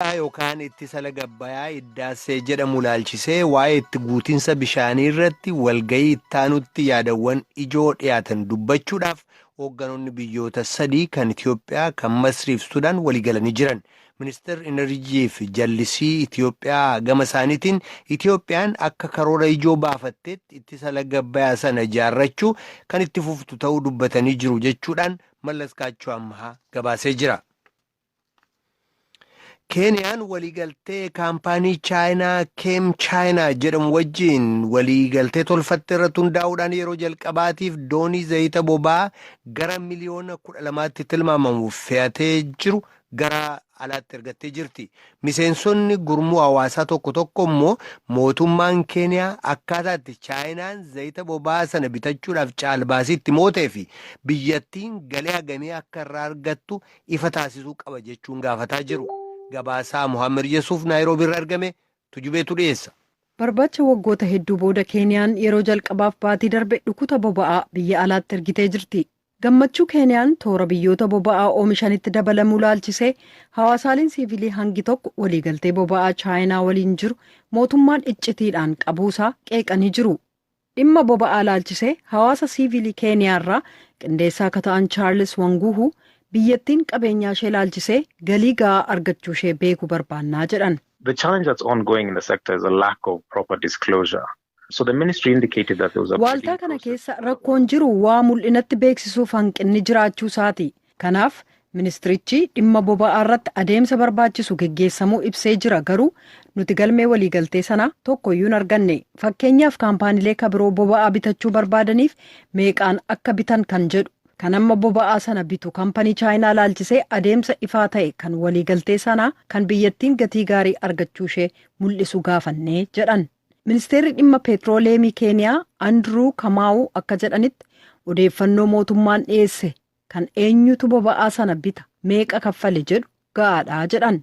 yookaan ittisa laga Abbayaa Iddaassee jedhamu ilaalchisee waa'ee itti guutinsa bishaanii irratti walga'ii ittaanutti yaadawwan ijoo dhiyaatan dubbachuudhaaf hoogganoonni biyyoota sadii kan Itiyoophiyaa, kan Masrii fi Sudaan waliigalanii jiran. Ministeerri Inarjii fi Jallisii Itiyoophiyaa gama isaaniitiin Itiyoophiyaan akka karoora ijoo baafatteetti ittisa laga Abbayaa sana ijaarrachuu kan itti fuftu ta'uu dubbatanii jiru jechuudhaan Mallas Kaachoo Ammahaa gabaasee jira. Keeniyaan waliigaltee kaampaanii Chaayinaa Keem Chaayinaa jedhamu wajjiin waliigaltee tolfatte irratti hundaa'uudhaan yeroo jalqabaatiif doonii zayita boba'aa gara miliyoona kudha lamaatti tilmaamamu fe'atee jiru gara alaatti ergattee jirti. Miseensonni gurmuu hawaasaa tokko tokko immoo mootummaan Keeniyaa akkaataatti Chaayinaan zayita boba'aa sana bitachuudhaaf caalbaasii itti mootee fi biyyattiin galii hagamii akka irraa argattu ifa taasisuu qaba jechuun gaafataa jiru. Gabaasaa Mohaammed Yesuuf Naayiroobii irra argame tujubeetu dhiyeessa. Barbaacha waggoota hedduu booda Keeniyaan yeroo jalqabaaf baatii darbe dhukuta boba'aa biyya alaatti ergitee jirti. Gammachuu Keeniyaan toora biyyoota boba'aa oomishanitti dabalamuu laalchisee hawaasaaleen siivilii hangi tokko waliigaltee boba'aa Chaayinaa waliin jiru mootummaan iccitiidhaan qabuusaa qeeqanii jiru. Dhimma boba'aa ilaalchisee hawaasa siiviilii Keeniyaa irraa qindeessaa ka ta'an Chaarlis Wanguuhu, biyyattiin qabeenyaa ishee ilaalchisee galii ga'aa argachuu ishee beeku barbaannaa jedhan. The challenge that's ongoing in the sector is a lack of proper disclosure. So the ministry indicated that there was a Waaltaa bidding kana process. keessa rakkoon jiru waa mul'inatti beeksisuuf hanqinni jiraachuu isaati. Kanaaf, ministirichi dhimma boba'aarratti adeemsa barbaachisu geggeessamuu ibsee jira garuu nuti galmee waliigaltee sanaa tokkoyyuu hin arganne. Fakkeenyaaf kaampaanilee ka biroo boba'aa bitachuu barbaadaniif meeqaan akka bitan kan jedhu, kan amma boba'aa sana bitu kampanii Chaayinaa ilaalchisee adeemsa ifaa ta'e kan waliigaltee sanaa kan biyyattiin gatii gaarii argachuushee mul'isu gaafanne, jedhan. Ministeerri dhimma peetrooleemii Keeniyaa Andiruu Kamaawuu akka jedhanitti, odeeffannoo mootummaan dhiyeesse Kan eenyutu boba'aa sana bita, meeqa kaffale jedhu ga'aadha jedhan.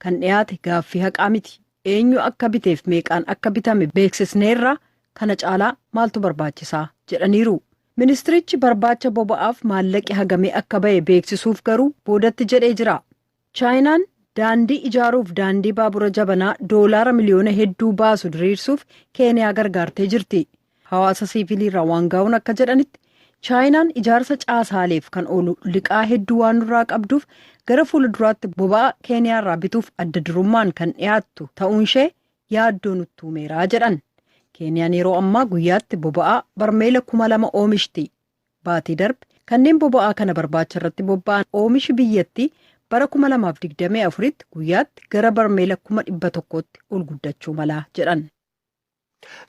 Kan dhiyaate gaaffii haqaa miti. Eenyu akka biteef meeqaan akka bitame beeksisneerra, kana caalaa maaltu barbaachisaa? jedhaniiru. Ministirichi barbaacha boba'aaf maallaqi hagamii akka ba'e beeksisuuf garuu boodatti jedhee jira. Chaayinaan daandii ijaaruuf daandii baabura jabanaa doolaara miliyoona hedduu baasu diriirsuuf Keeniyaa gargaartee jirti. Hawaasa siiviiliirraa Waangaawun akka jedhanitti, Chaayinaan ijaarsa caasaaleef kan oolu liqaa hedduu waan nurraa qabduuf gara fuula duraatti boba'aa Keeniyaarraa bituuf adda durummaan kan dhiyaattu ta'uunshee yaaddoo nutti uumeera jedhan. Keeniyaan yeroo ammaa guyyaatti boba'aa barmeela kuma lama oomishti. baatii darbe kanneen boba'aa kana barbaacha irratti bobba'an oomishi biyyattii bara 2024tti guyyaatti gara barmeela kuma 100tti ol guddachuu mala jedhan.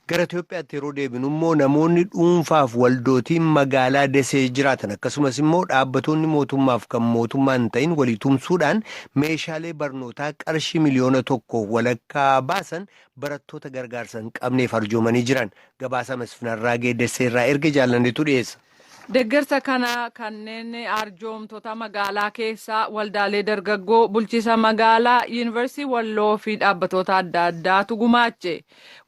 Gara Itoophiyaatti yeroo deebinu immoo namoonni dhuunfaaf waldootiin magaalaa Desee jiraatan akkasumas immoo dhaabbatoonni mootummaaf kan mootummaa hin ta'in walii tumsuudhaan meeshaalee barnootaa qarshii miliyoona tokko walakkaa baasan barattoota gargaarsa hin qabneef arjoomanii jiran Gabaasa Mesfin Arraagee Dessee irraa erge Jaallanneetu dhiyeessa. Deggersa kana kanneen arjoomtota magaalaa keessaa, waldaalee dargaggoo, bulchiisa magaalaa, Yuunivarsiitii Walloo fi dhaabbatoota adda addaatu gumaache.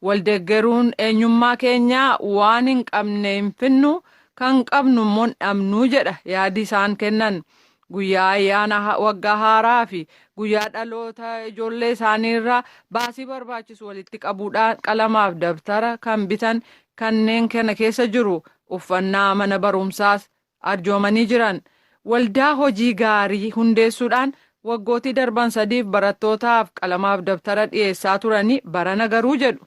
Wal deggeruun eenyummaa keenya waan hin qabne hin finnu, kan qabnu immoo hin dhabnu jedha yaadi isaan kennan. Guyyaa ayyaana ha- waggaa haaraa fi guyyaa dhaloota ijoollee isaanii irraa baasii barbaachisu walitti qabuudhaan qalamaaf dabtara kan bitan kanneen kana keessa jiru uffannaa mana barumsaas arjoomanii jiran. Waldaa hojii gaarii hundeessuudhaan waggootii darban sadiif barattootaaf qalamaaf dabtara dhiyeessaa turanii barana garuu jedhu.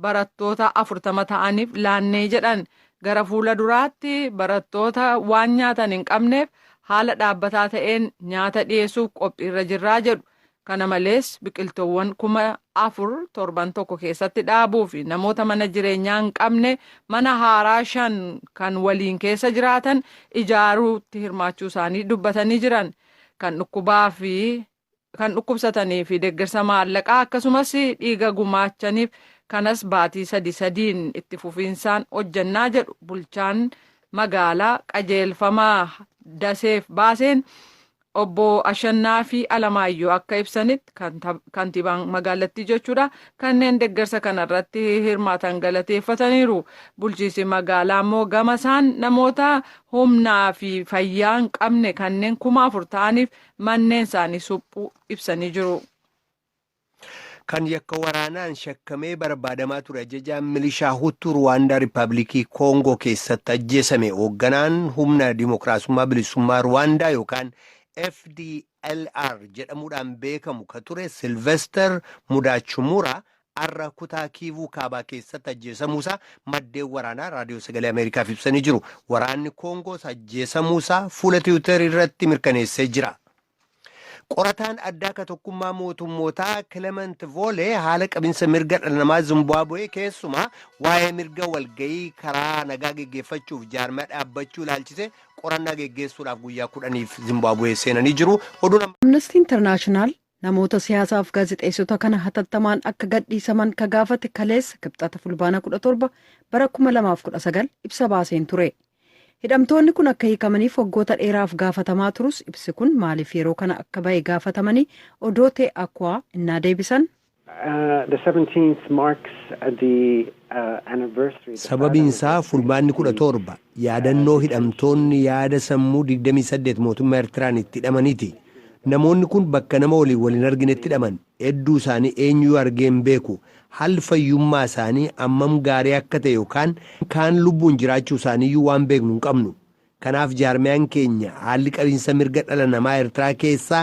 barattoota 40 ta'aniif laannee jedhan. Gara fuula duraatti barattoota waan nyaatan hin qabneef haala dhaabbataa ta'een nyaata dhiyeessuuf qophiirra jirraa jedhu. Kana malees biqiltoowwan kuma afur torban tokko keessatti dhaabuu fi namoota mana jireenyaa hin qabne mana haaraa shan kan waliin keessa jiraatan ijaaruutti hirmaachuu isaanii dubbatanii jiran. Kan dhukkubaa fi kan dhukkubsatanii fi deeggarsa maallaqaa akkasumas dhiiga gumaachaniif kanas baatii sadi sadiin itti fufiinsaan hojjannaa jedhu bulchaan magaalaa qajeelfama daseef baaseen obbo Ashannaafii Alamaayyoo akka ibsanitti kantiibaan magaalattii jechuudha kanneen deeggarsa kanarratti hirmaatan galateeffataniiru bulchiinsi magaalaa immoo gama isaan namoota humnaa fi fayyaa hin qabne kanneen kuma afur ta'aniif manneen isaanii suphuu ibsanii jiru. Kan yakka waraanaan shakkamee barbaadamaa ture ajajaan milishaa Huttuu Ruwaandaa Riippaabilikii Koongoo keessatti ajjeesame hoogganaan humna dimookiraasummaa bilisummaa Ruwaandaa yookaan FDLR jedhamuudhaan beekamu ka ture Silvester Mudaachumuraa har'a kutaa Kiivuu kaabaa keessatti ajjeesamuusaa maddeen waraanaa raadiyoo sagalee Ameerikaaf ibsanii jiru. Waraanni Koongoos ajjeesamuusaa fuula tiwiitarii irratti mirkaneessee jira. Qorataan addaa ka tokkummaa mootummootaa Kilemant Voolee haala qabinsa mirga dhala namaa Zimbaabuwee keessumaa waa'ee mirga walga'ii karaa nagaa geggeeffachuuf jaarmaa dhaabbachuu ilaalchisee qorannaa geggeessuudhaaf guyyaa kudhaniif Zimbaabuwee seenanii jiru. Amnestii Intarnaashinaal Namoota siyaasaa fi gaazexeessota kana hatattamaan akka gadhiisaman ka gaafate kaleessa Kibxata Fulbaana 17 bara 2019 ibsa baaseen ture. Hidhamtoonni kun akka hiikamaniif waggoota dheeraaf gaafatamaa turus ibsi kun maaliif yeroo kana akka bahe gaafatamanii Odoote Akwaa innaa deebisan. Sababiin isaa Fulbaanni 17 yaadannoo hidhamtoonni yaada sammuu 28 mootummaa Ertiraan itti hidhamaniiti. Namoonni kun bakka nama waliin wal hin arginetti hidhaman. Hedduu isaanii eenyuyyuu argee hin beeku. Haalli fayyummaa isaanii hammam gaarii akka ta'e yookaan kaan lubbuun jiraachuu isaaniiyyuu waan beeknu hin qabnu. Kanaaf jaarmiyaan keenya haalli qabiinsa mirga dhala namaa Ertiraa keessaa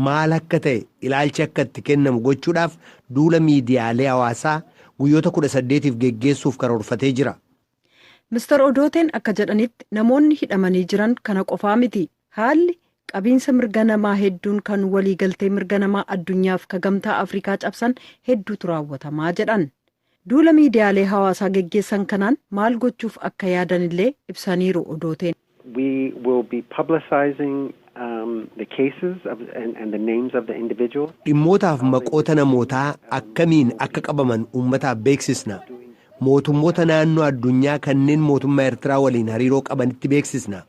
maal akka ta'e ilaalchi akka itti kennamu gochuudhaaf duula miidiyaalee hawaasaa guyyoota 18f geggeessuuf karoorfatee jira. Mr Odooteen akka jedhanitti namoonni hidhamanii jiran kana qofaa miti. Haalli Qabiinsa mirga namaa hedduun kan walii galtee mirga namaa addunyaaf ka gamtaa Afrikaa cabsan hedduutu raawwatamaa jedhan. Duula miidiyaalee hawaasaa geggeessan kanaan maal gochuuf akka yaadanillee ibsaniiru Odooteen. We will be publicizing the cases of and the names of the individuals. Dhimmootaaf maqoota namootaa akkamiin akka qabaman uummataaf beeksisna. Mootummoota naannoo addunyaa kanneen mootummaa Ertiraa waliin hariiroo qabanitti beeksisna.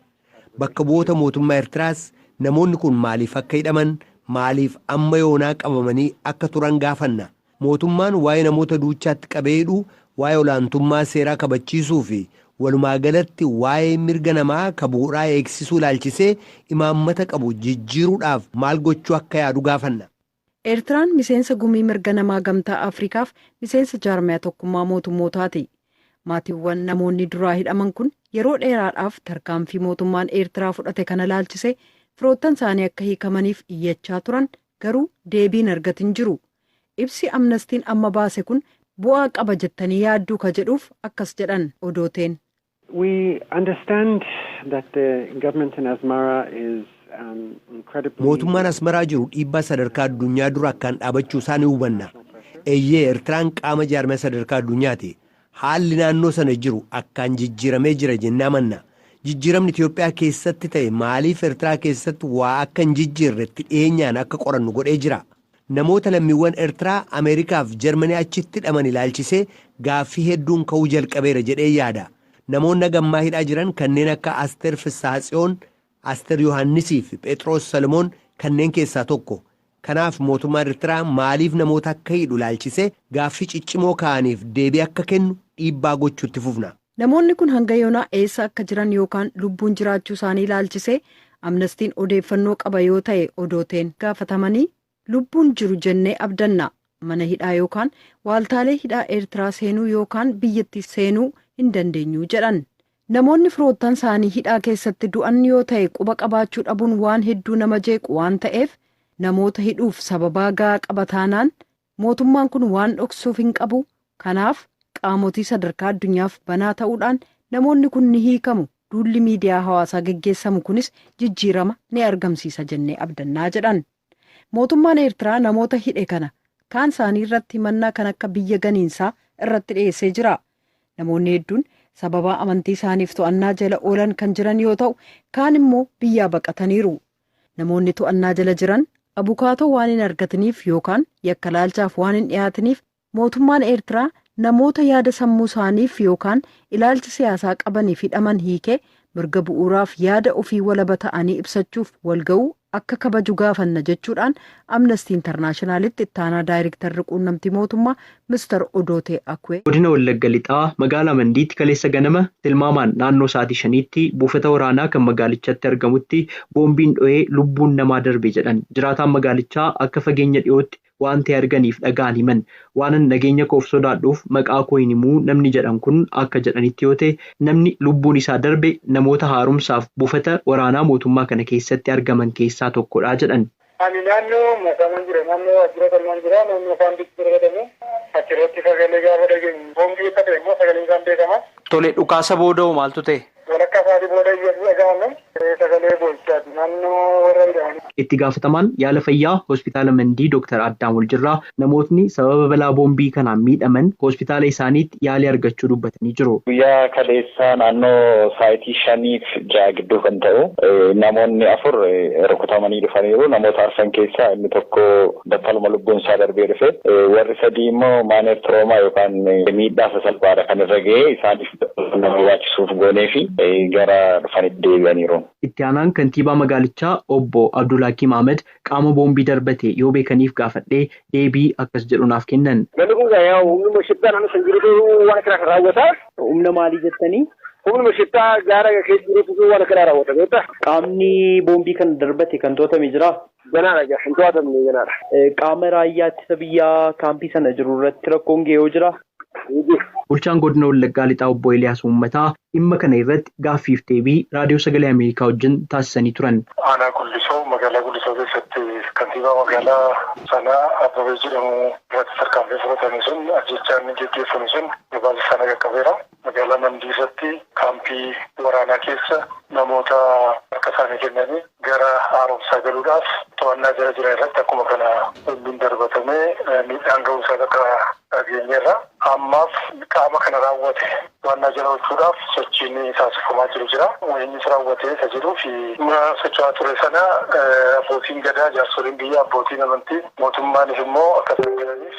Bakka bu'oota mootummaa Ertiraas namoonni kun maaliif akka hidhaman, maaliif amma yoonaa qabamanii akka turan gaafanna. Mootummaan waa'ee namoota duuchaatti qabee hidhuu, waa'ee olaantummaa seeraa kabachiisuu fi walumaa galatti waa'ee mirga namaa ka bu'uraa eegsisuu ilaalchisee imaammata qabu jijjiiruudhaaf maal gochuu akka yaadu gaafanna. Eertiraan miseensa Gumii Mirga Namaa Gamtaa Afrikaaf miseensa Jaarmaya Tokkummaa Mootummootaati. Maatiwwan namoonni duraa hidhaman kun yeroo dheeraadhaaf tarkaanfii mootummaan Eertiraa fudhate kana ilaalchisee firoottan isaanii akka hiikamaniif iyyachaa turan garuu deebii hin argatin jiru. Ibsi Amnastiin amma baase kun bu'aa qaba jettanii yaadduu ka jedhuuf akkas jedhan Odooteen. We understand that the government in Asmara is incredibly. Mootummaan Asmaraa jiru dhiibbaa sadarkaa addunyaa dura akkaan dhaabachuu isaa ni hubanna. Eeyyee Ertiraan qaama jaarmiyaa sadarkaa addunyaati. Haalli naannoo sana jiru akkaan jijjiiramee jira jennee amanna. Jijjiiramni Itiyoophiyaa keessatti ta'e maaliif Ertiraa keessatti waa akka hin jijjiirre itti dhiyeenyaan akka qorannu godhee jira. Namoota lammiiwwan Ertiraa Ameerikaa fi Jarmanii achitti hidhaman ilaalchisee gaaffii hedduun ka'uu jalqabeera jedheen yaada. Namoonni haga ammaa hidhaa jiran kanneen akka Asteer Fissaahatsiyoon, Aster Yohaannisii fi Pheexiroos Solomoon kanneen keessaa tokko. Kanaaf mootummaan Ertiraa maaliif namoota akka hidhu ilaalchisee gaaffii ciccimoo ka'aniif deebii akka kennu dhiibbaa gochuu itti fufna. Namoonni kun hanga yoonaa eessa akka jiran yookaan lubbuun jiraachuu isaanii ilaalchisee Amnestiin odeeffannoo qaba yoo ta'e Odooteen gaafatamanii, Lubbuun jiru jennee abdanna. Mana hidhaa yookaan waaltaalee hidhaa Eertiraa seenuu yookaan biyyattiis seenuu hin dandeenyu, jedhan. Namoonni firoottan isaanii hidhaa keessatti du'an yoo ta'e quba qabaachuu dhabuun waan hedduu nama jeequ waan ta'eef namoota hidhuuf sababaa ga'aa qaba taanaan mootummaan kun waan dhoksuuf hin qabu, kanaaf qaamotii sadarkaa addunyaaf banaa ta'uudhaan namoonni kun ni hiikamu, duulli miidiyaa hawaasaa geggeessamu kunis jijjiirama ni argamsiisa jennee abdannaa jedhan. Mootummaan Eertiraa namoota hidhe kana kaan isaanii irratti himannaa kan akka biyya ganiinsaa irratti dhiyeessee jira. Namoonni hedduun sababaa amantii isaaniif to'annaa jala oolan kan jiran yoo ta'u, kaan immoo biyyaa baqataniiru. Namoonni to'annaa jala jiran abukaatoo waan hin argatiniif yookaan yakka laalchaaf waan hin dhiyaatiniif Mootummaan Eertiraa namoota yaada sammuu isaaniif yookaan ilaalcha siyaasaa qabaniif hidhaman hiikee mirga bu'uuraaf yaada ofii walaba ta'anii ibsachuuf walga'uu akka kabaju gaafanna jechuudhaan Amnestii Intarnaashinaalitti ittaanaa daayrektarri quunnamtii mootummaa Mr. Odootee Akwee Godina Wallagga Lixaa magaalaa Mandiitti kaleessa ganama tilmaamaan naannoo sa'aatii shaniitti buufata waraanaa kan magaalichatti argamutti boombiin dhohee lubbuun namaa darbe jedhan jiraataan magaalichaa akka fageenya dhiyootti Waanti arganiif dhaga'an himan. Waanan nageenya koof sodaadhuuf maqaa koo hin himu namni jedhan kun akka jedhanitti yoo ta'e, namni lubbuun isaa darbe namoota haaromsaaf buufata waraanaa mootummaa kana keessatti argaman keessaa tokkodha jedhan. Ani naannoo Masaanan jira. Naannoo waajjira qonnaan jira. Naannoo kaampiitti darbatamu. Achirratti sagalee gaafa dhageenyu boombii akka ta'e immoo sagaleen isaa hin beekama. Tole, dhukaasa booda hoo maaltu ta'e? Walakkaa sa'aatii booda iyyatu dhaga'ame. Sagalee boo'ichaati. Naannoo warra hidhamanii. Itti gaafatamaan yaala fayyaa Hospitaala Mandii Doktar Addaam Waljirraa namootni sababa balaa boombii kanaan miidhaman hospitaala isaaniitti yaalii argachuu dubbatanii jiru. Guyyaa kaleessaa naannoo sa'aatii shaniif ja'a gidduu kan ta'u namoonni afur rukutamanii dhufaniiru. Namoota arfan keessaa inni tokko battaluma lubbuun isaa darbee dhufe. Warri sadii immoo maaneer tiroomaa yookaan miidhaa sasalphaadha kan irra ga'ee isaaniif gargaarsa barbaachisuuf gooneefi gara dhufanitti deebi'aniiru. Itti aanaan kantiibaa magaalichaa obbo Abdulhakiim Ahmad qaama boombii darbate yoo beekaniif gaafadhee deebii akkas jedhu naaf kennan. Namni kun egaa yaa humnuma shiftaa naannoo san jirutu waan akkanaa kan raawwata. Humna maalii jettanii? Humnuma shiftaa gaara keessa jirutu waan akkanaa raawwata beektaa? Qaamni boombii kana darbate kan to'atame jiraa? Ganaadha egaa hin to'atamne ganaadha. Qaama raayyaa ittisa biyyaa kaampii sana jiru irratti rakkoon gahe hoo jiraa? Hin jiru. Bulchaan Godina Wallaggaa Lixaa Obbo Eliyaas Uummataa dhimma kana irratti gaaffiif deebii Raadiyoo Sagalee Ameerikaa wajjin taasisanii turan. Aanaa Gullisoo magaalaa Gullisoo keessatti kantiibaa magaalaa sanaa Abbabee jedhamu irratti tarkaanfiin fudhatame sun ajjeechaan geggeeffame sun gabaasa isaa na qaqqabeera. Magaalaa Mandiirratti kaampii waraanaa keessa namoota harka isaanii kennanii gara haaromsaa galuudhaaf to'annaa jala jiran irratti akkuma kana bombiin darbatamee miidhaan ga'uu isaa bakka dhageenyeerra. Ammaaf qaama kana raawwate to'annaa jala oolchuudhaaf sochiin taasifamaa jiru jira. Eenyutu raawwate isa jedhuu fi dhimma socho'aa ture sana abbootiin Gadaa, jaarsoliin biyyaa, abbootiin amantii, mootummaanis immoo akka saaxilaniif.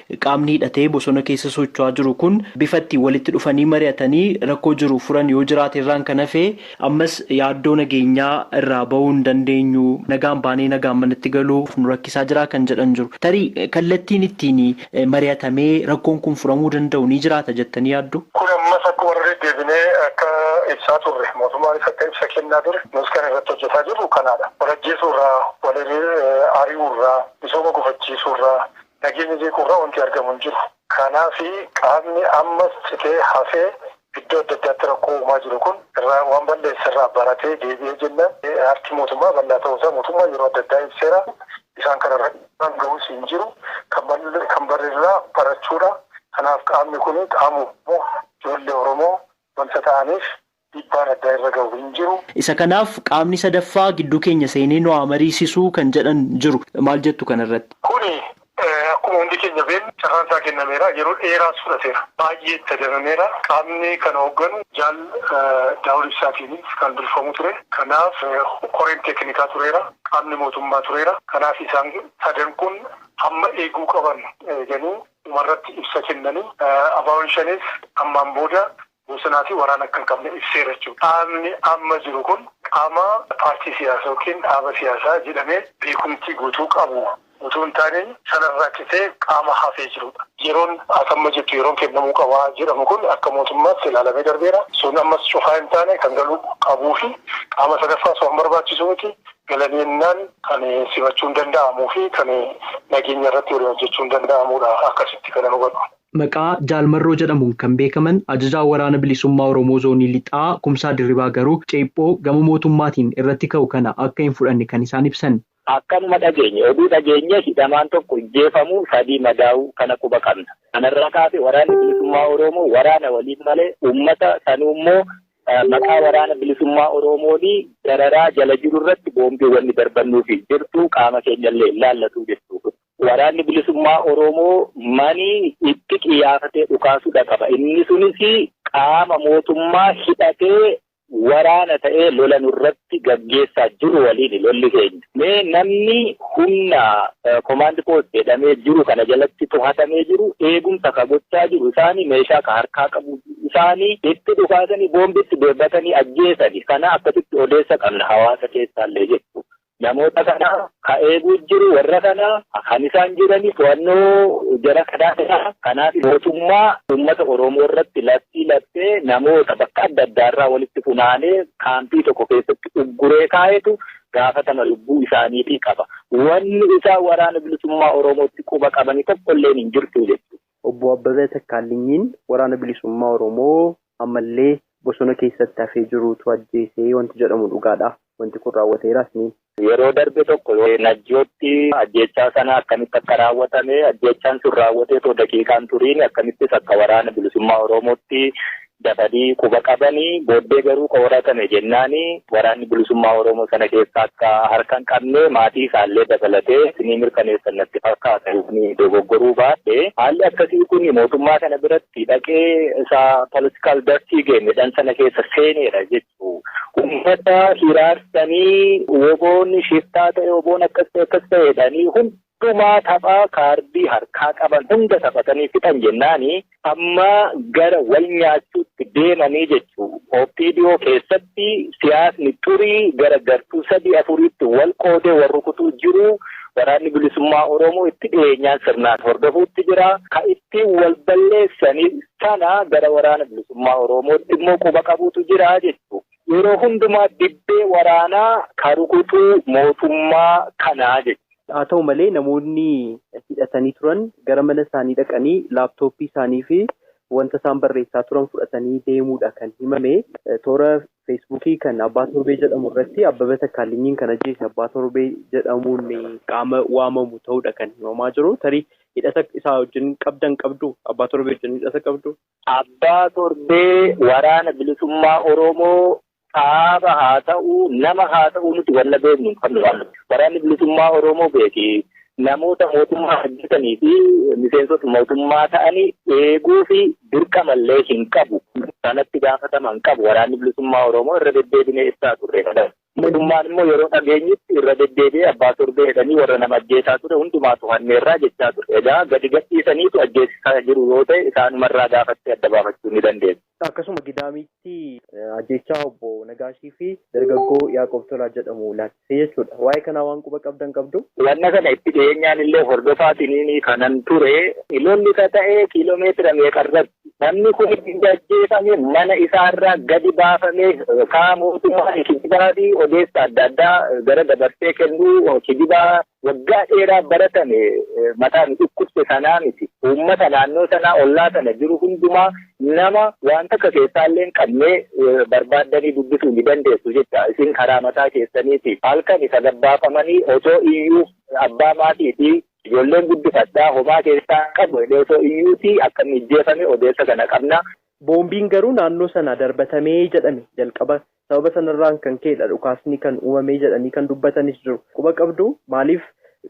Qaamni hidhatee bosona keessa socho'aa jiru kun bifa ittiin walitti dhufanii mari'atanii rakkoo jiru furan yoo jiraate irraan kan hafe ammas yaaddoo nageenyaa irraa ba'uu hin dandeenyu, nagaan baanee nagaan manatti galuuf nu rakkisaa jira kan jedhan jiru. Tarii kallattiin ittiin mari'atamee rakkoon kun furamuu danda'u ni jiraata jettanii yaaddu? Kun ammas akkuma irra deddeebinee akka ibsaa turre, mootummaanis akka ibsa kennaa ture, nus kan irratti hojjetaa jirru kanaadha. Wal ajjeesuu irraa, wal ari'uu irraa, misooma gufachiisuu irraa, Nageenya jeequurra wanti argamu hin jiru. Kanaaf qaamni ammas citee hafee iddoo adda addaatti rakkoo uumaa jiru kun irraa waan bal'eesserraa baratee deebi'ee jennaan harki mootummaa bal'aa ta'uusaa mootummaan yeroo adda addaa ibseera. Isaan kanarratti dhiibbaan gahus hin jiru. Kan barerraa barachuudha. Kanaaf qaamni kun qaama Oromoo, ijoollee Oromoo wanta ta'aniif dhiibbaan addaa irra gahu hin jiru. Isa kanaaf qaamni sadaffaa gidduu keenya seenee nu haa mariisisuu kan jedhan jiru. Maal jettu kana irratti? Kuni akkuma hundi keenya beeknu carraan isaa kennameera. Yeroo dheeraas fudhateera. Baay'ee itti adamameera. Qaamni kana hoogganu Jaal Daawud Ibsaatiinis kan durfamu ture. Kanaaf koreen teeknikaa tureera. Qaamni mootummaa tureera. Kanaaf isaan sadan kun hamma eeguu qaban eeganii dhumarratti ibsa kennanii ABOn Shanees ammaan booda Bosonaa fi waraana akka hin qabne ibseera jechuun dhaabni amma jiru kun qaama paartii siyaasaa ykn dhaaba siyaasaa jedhamee beekumtii guutuu qabu utuu hin taane sanarraa citee qaama hafee jirudha. Yeroon ati amma jettu yeroon kennamuu qaba jedhamu kun akka mootummaatti ilaalamee darbeera. Sun ammas cufaa hin taane kan galuu qabuu fi qaama sadaffaas waan barbaachisu miti. Galanii ennaan kan simachuun danda'amuu fi kan nageenya irratti waliin hojjechuun danda'amudha. Akkasitti kanan hubadhu. Maqaa Jaal Marroo jedhamuun kan beekaman Ajajaa Waraana Bilisummaa Oromoo Zoonii Lixaa Kumsaa Dirribaa garuu ceephoo gama mootummaatiin irratti ka'u kana akka hin fudhanne kan isaan ibsan. Akkanuma dhageenye. Oduu dhageenye hidhamaan tokko ijjeefamuu, sadii madaa'uu kana quba qabna. Kanarraa kaasee Waraanni Bilisummaa Oroomoo waraana waliin malee uummata sanuummoo maqaa Waraana Bilisummaa Oroomoon dararaa jala jirurratti boombiiwwan ni darbannuufi jirtu qaama keenyallee hin laallatu jechuudha. Waraanni Bilisummaa Oromoo mani itti qiyyaafatee dhukaasudha qaba. Inni sunis qaama mootummaa hidhatee waraana ta'ee lola nurratti gaggeessaa jiru waliini lolli keenya. Mee namni humna komaandi poost jedhamee jiru kana jalatti tohatamee jiru eegumsa ka gochaa jiru isaani meeshaa ka harkaa qabu isaani itti dhukaasanii boombitti deebbatanii ajjeesani kana akkasitti odeessa qabna hawaasa keessaallee jechuudha. Namoota kana ka eeguu jiru warra kana kan isaan jirani to'annoo jara kanaa jira. Kanaaf mootummaa uummata Oromoo irratti labsii labsee namoota bakka adda addaa irraa walitti funaanee kaampii tokko keessatti ugguree kaa'etu gaafatama lubbuu isaaniitii qaba. Wanni isaan waraana bilisummaa Oromootti quba qabani tokkolleen hin jirtu jechuudha. Obbo Abbabee Takkaalinyiin Waraana Bilisummaa Oromoo ammallee bosona keessatti hafee jiruutu ajjeese wanti jedhamu dhugaadha. Wanti kun raawwateeraas ni. Yeroo darbe tokko Najjootti ajjeechaa sana akkamitti akka raawwatame, ajjeechaan sun raawwatee otoo daqiiqaa hin turiin akkamittis akka Waraana Bilisummaa Oromootti dafanii quba qabani. Booddee garuu ka horatame jennaani Waraanni Bilisummaa Oromoo sana keessa akka harka hin qabne maatii isaallee dabalatee isinii mirkaneessan natti fakkaata yooni dogoggoruu baadhe. Haalli akkasii kuni mootummaa kana biratti dhaqee isa political dirty game jedhan sana keessa seeneera jechuu. Ummata hiraarsanii woboon shiftaa ta'e woboon akkas ta'e akkas ta'e jedhanii hunda Dhuma tapha kaardii harkaa qaban hunda taphatanii fixan jennaan amma gara wal nyaachuutti deemanii jechuu. Opdo keessatti siyaasni xurii gara gartuu sadii afuriitti wal qoodee wal rukutuu jiru. Waraanni Bilisummaa Oromoo itti dhiyeenyaan sirnaan hordofuutti jira. Ka ittiin wal balleessan sana gara Waraana Bilisummaa Oromootti immoo quba qabuutu jira jechuu. Yeroo hundumaa dibbee waraanaa ka rukutuu mootummaa kanaa jechuu. Haa ta'u malee namoonni hidhatanii turan gara mana isaanii dhaqanii laaptooppii isaanii fi wanta isaan barreessaa turan fudhatanii deemuudha kan himame. Toora Feesbuukii kan Abbaa Torbee jedhamu irratti Abbaba Takkaalinyiin kan ajjeese Abbaa Torbee jedhamuun qaama waamamu ta'uudha kan himamaa jiru. Tarii hidhata isaa wajjin qabdan qabdu? Abbaa Torbee wajjin hidhata qabdu? Abbaa Torbee Waraana Bilisummaa Oromoo dhaaba haa ta'u, nama haa ta'u nuti wanna beeknu hin qabnu waan ta'eef. Waraanni Bilisummaa Oromoo beeki namoota mootummaa hojjetanii fi miseensota mootummaa ta'ani eeguu fi dirqama illee hin qabu. Kanatti gaafatama hin qabu. Waraanni Bilisummaa Oromoo irra deddeebinee ibsaa turre. Mootummaan immoo yeroo dhageenyutti irra deddeebi'ee abbaa torbee jedhanii warra nama ajjeesaa ture hundumaa to'anneerraa jechaa ture. Egaa gadi gadhiisaniitu ajjeesisaa jiru yoo ta'e isaanumarraa gaafattee adda baafachuu ni dandeessa. Akkasuma Gidaamiitti ajjeechaa obbo Nagaashii fi dargaggoo Yaaqoob Tolaa jedhamu ilaalchisee jechuudha. Waa'ee kanaa waan quba qabdan qabduu? Wanna kana itti dhiyeenyaan illee hordofaatiin kanan ture. Lolli ka ta'e kiiloomeetira meeqa irratti? Namni kun erga ajjeefame mana isaa irraa gadi baafamee yookaan mootummaan kijibaa fi odeessa adda addaa gara dabarsee kennuu kijibaa waggaa dheeraa baratame mataa nu dhukkubse sanaa miti. Uummata naannoo sanaa ollaa sana jiru hundumaa nama waan takka keessaa illee hin qabnee barbaaddanii dubbisuu ni dandeessu jecha isin karaa mataa keessaniiti halkan isa gabbaafamanii otoo iyyuu abbaa maatii fi Ijoolleen guddifadhaa homaa keessaa hin qabu jedhee osoo iyyuutii akka inni ijjeefame odeessa kana qabna. Boombiin garuu naannoo sana darbatame jedhame. Jalqaba sababa sanarraan kan ka'edha dhukaasni kan uumame jedhanii kan dubbatanis jiru. Quba qabdu maaliif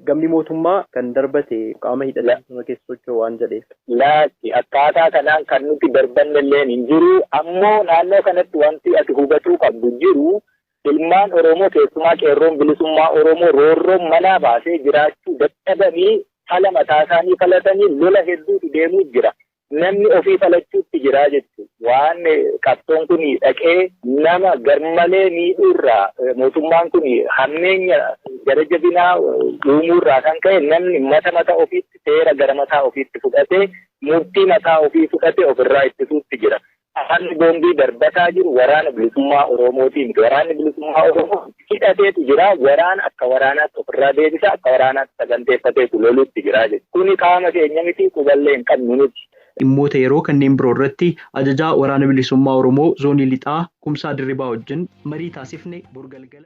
gamni mootummaa kan darbate qaama hidhatee bosona keessa socho'u waan jedheef? Laakki akkaataa kanaan kan nuti darbannelleen hin jiru. Ammoo naannoo kanatti wanti ati hubatuu qabdu jiru Ilmaan Oromoo keessumaa Qeerroon Bilisummaa Oromoo roorroon manaa baasee jiraachuu dadhabanii fala mataasaanii falatanii lola hedduutu deemuu jira. Namni ofii falachuutti jira jechuudha. Waan qabsoon kun dhaqee nama garmalee miidhuurraa mootummaan kun hammeenya gara jabinaa uumuurraa kan ka'e namni mata mataa ofiitti seera gara mataa ofiitti fudhatee murtii mataa ofii fudhatee ofirraa ittisuutti jira. Waraanni boombii darbataa jiru waraana bilisummaa Oromootii miti. Waraanni bilisummaa Oromoo hidhateetu jira. Waraana akka waraanaatti ofirraa deebisa, akka waraanaatti saganteeffateetu loluutti jira jechuudha. Kuni qaama keenya miti, quballee hin qabnu nuti. Dhimmoota yeroo kanneen biroo irratti Ajajaa Waraana Bilisummaa Oromoo Zoonii Lixaa Kumsaa Dirribaa wajjin marii taasifne bor galgala.